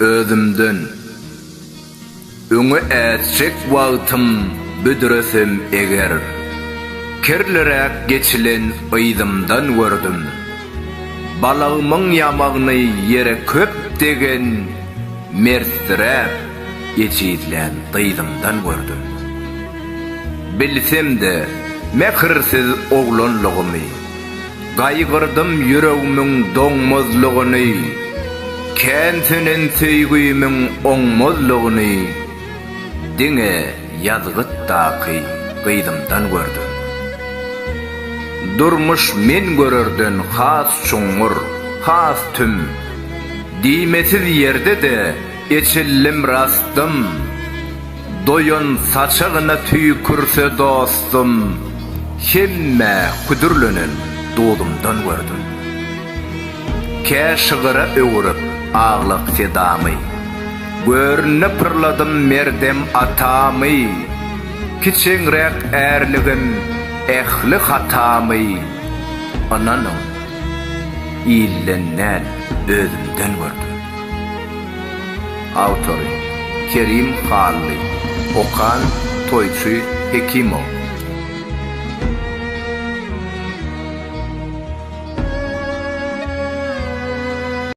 Özümden, Öňe ätjek wagtym büdresem eger, Kirliräk geçilen yzymdan gördüm. Balagymyň ýamagyny ýere köp degen, Mertsiräp, ejizlän dyzymdan gördüm. Bilsem-de, mähirsiz oglanlygymy. Gaýgyrdym ýüregmiň doňmazlygyny, Kän sönen söýgimiň oňmazlygyny, Diňe ýazgytdaky gyzymdan gördüm. Durmuş men görerden has çuňňur, has tüm, Diýmesiz ýerde-de Eçildim rastym, doýan saçagyna tüýkürse dostum, hemmä küdürlenen duzumdan gördüm. Kä şygyra öwürip aglak sedamy, görnde pyrladym merdem atamy, kiçeňräk ärligim, ähli hatamy, ynanyň, ilden däl, özümden gördüm. Awtory, Kerim Hally. Okan, Toýçy Hekimow.